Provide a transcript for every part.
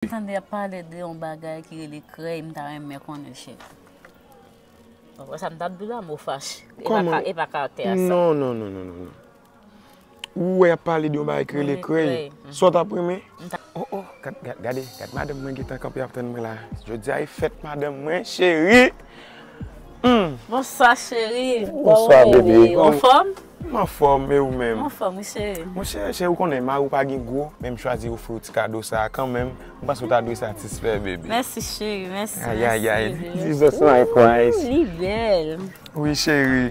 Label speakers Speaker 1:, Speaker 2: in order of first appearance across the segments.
Speaker 1: M tande yap pale de yon bagay ki rele krèy m ta renmen konnen chef. Ou wè sa m tap diw la mo fache. E pa karatè a sa. Non non non non non.
Speaker 2: Ou wè yap pale de yon bagay ki rele krèy. Sa w tap renmen? Oh oh gade gade madanm mwen gentan kanpe ap tann mwen la. Jodia e fèt madanm mwen cheri.
Speaker 1: Bonswa cheri, bonswa bebe,
Speaker 2: anfòm?
Speaker 1: M anfòm,
Speaker 2: e ou menm? M anfòm wi cheri. Bon
Speaker 1: cheri, cheri ou konnen
Speaker 2: mari ou pa gen gwo, men m chwazi ofri ou ti kado sa a kanmenm, m panse ou ta dwe satisfè bebe. Mèsi cheri, mèsi,
Speaker 1: mèsi bebe. Ayayay,
Speaker 2: Jesus my Christ. Li bèl.
Speaker 1: Wi cheri.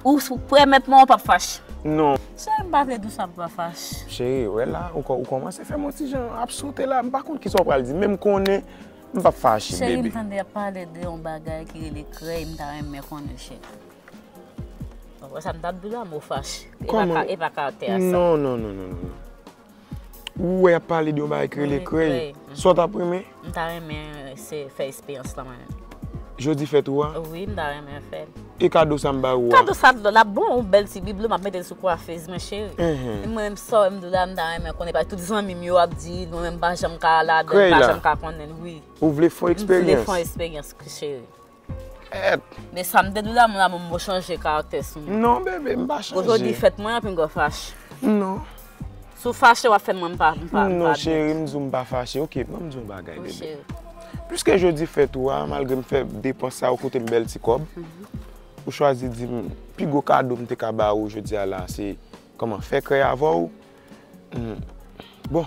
Speaker 1: Ou sou prè mèt mwen ou pap fache. Non. Cheri
Speaker 2: mpa vle dou
Speaker 1: sa mpa fache. Cheri ou wè la
Speaker 2: ou kòmanse fèm yon ti jan ap sote la mpa konn kisa ou pral di menm konnen mpap fache bebe. Cheri mtande yap pale
Speaker 1: de
Speaker 2: yon
Speaker 1: bagay ki rele krèy mta renmen konnen cheri. Ou wè sa mtap diw la mwen fache. Kòman. Epa karakte a sa. Non non non non
Speaker 2: non. Ou wè yap pale de yon bagay ki rele krèy. Sa w ta p renmen? M ta renmen
Speaker 1: se fè esperyans lan mwen menm. Jodi fèt ou
Speaker 2: a? Wi, m ta renmen fè
Speaker 1: l. E kado sa m ba
Speaker 2: ou a? Kado sa l ap bon, yon
Speaker 1: bèl ti biblo m ap mete l sou kwafez mwen cheri. E mwen menm sa w wè m di w la, m ta renmen konnen paske tout zanmi m yo ap di l, mwen menm m pa janm ka ladan l, m pa janm ka konnen l. Krèy la? Ou vle fè yon eksperyans?
Speaker 2: M vle fè yon eksperyans
Speaker 1: cheri. Men sa m te di w damou damou m ou chanje karaktè sou mwen. Non bebe m pa
Speaker 2: chanje. Ojodi fèt mwen anpin gwa
Speaker 1: fache. Non.
Speaker 2: Sou
Speaker 1: fache w ap fè mwen m pa m pa. Non cheri m di
Speaker 2: w m pa fache ok ban m di w yon bagay bebe. Wi cheri. Piske jodi fèt ou a malgre m fè depans sa ou koute m bèl ti kòb. Ou chwazi di m pi gwo kado m te ka ba ou jodi a la se kòman fè krèy avè w. Bon.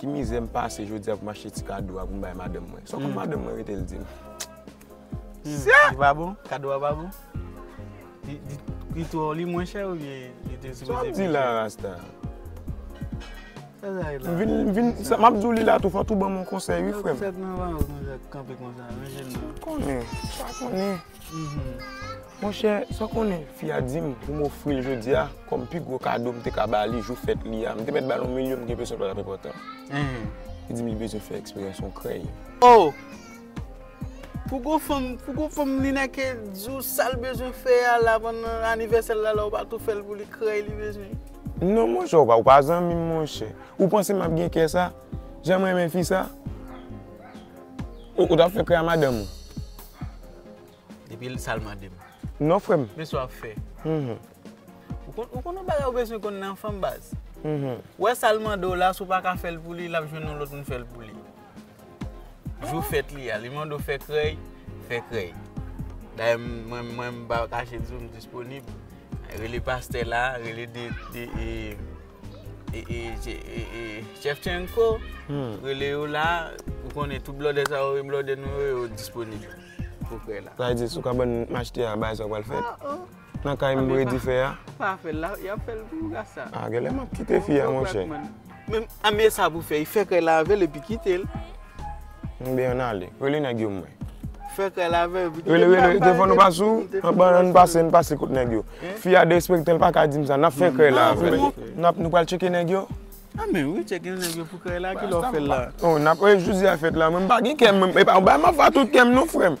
Speaker 2: Ki mizè m pase jodi a pou m achte ti kado a pou m bay madanm mwen. Sou konn madanm mwen rete l di m.
Speaker 3: Sya! Li pa bon? Kado a pa bon? Li twò li mwen chè oubyen li te sipoze pi chè? Sa w ap di la rasta? Sa sa ye la? M vin, m vin, m ap
Speaker 2: di w li la tou fò tou ban m yon konsèy wi frè m. Sa w fè nan valiz mwen sa
Speaker 3: kanpe konsa? Ranje l non. M pa konnen, m pa
Speaker 2: konnen. Monchè, sa w konnen fi a di m pou m ofri l jodi a kòm pi gwo kado m te ka ba li jou fèt li a? M te mèt ba l yon milyon m gen enpresyon l pa t ap enpòtan. Li di m li bezwen fè eksperyans yon krèy. O!
Speaker 3: Pou gwo fanm, pou gwo fanm Lineke di w sa l bezwen fè a la pandan anivèsè l la la ou pa tou fè l pou li, krèy li bezwen? Non monchè,
Speaker 2: ou pa ou pa zanmi m monchè. Ou panse m ap gen kè sa? Jan m renmen fi sa? Ou t ap fè krèy a madanm ou?
Speaker 3: Depi l sa l mande m. Non frè m. Men
Speaker 2: sa w ap fè.
Speaker 3: Ou konn yon bagay ou bezwen konn nan fanm baz. Ou wè sa l mande w la si w pa ka fè l pou li, l ap jwenn yon lòt moun fè l pou li. Jou fèt li a, li mande w fè krèy, fè krèy. Dayè mwen m pa kache di w m disponib. Rele pastè la, rele de. Chefchenko rele yo la ou konnen tout blòdè sa yo e blòdè nou yo yo disponib pou prè la. Sa
Speaker 2: vle di sou kabann m achte a bagay sa yo pral fèt? Nan kay m boure dife a? Pa fè l la, y ap
Speaker 3: fè l pou gras sa. A genlè m ap kite fi
Speaker 2: a monchè. Menm
Speaker 3: sa pou fè, fè kay la avè l epi kite l. Mbe
Speaker 2: an ale. Rele nèg yo mwen. Fè kay la
Speaker 3: avèm. Rele rele telefon nou
Speaker 2: pa sou. Anban an pase an pase kot nèg yo. Fi a derespekte l paka dim sa. Nap fè kay la avèl. Nap nou pral tcheke nèg yo. Anmenm wi
Speaker 3: tcheke nèg yo pou kay la ki lè w fè l la. Oh nap e jodi a
Speaker 2: fèt la mwen pa gen kè mwen. Epa ou bay ma fwa tout kèm non frèm.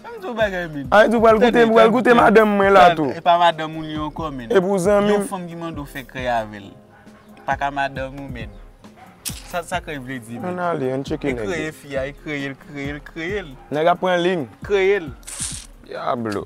Speaker 2: Anm di w bagay min. Anm di w pral goute m pral goute madanm mwen la tou. Epa
Speaker 3: madanm
Speaker 2: ou li
Speaker 3: ankò min. Epi
Speaker 2: w
Speaker 3: zanmi
Speaker 2: m. Yon
Speaker 3: fanm ki mande
Speaker 2: w
Speaker 3: fè kay avèl. Paka madanm ou men. Sa sa krey vle di men. Ann ale ann tcheke nèg yo. Li
Speaker 2: kreye fi a, li kreye l, kreye l,
Speaker 3: kreye l.
Speaker 2: Nèg ap pran ling. Kreye l. Diablo.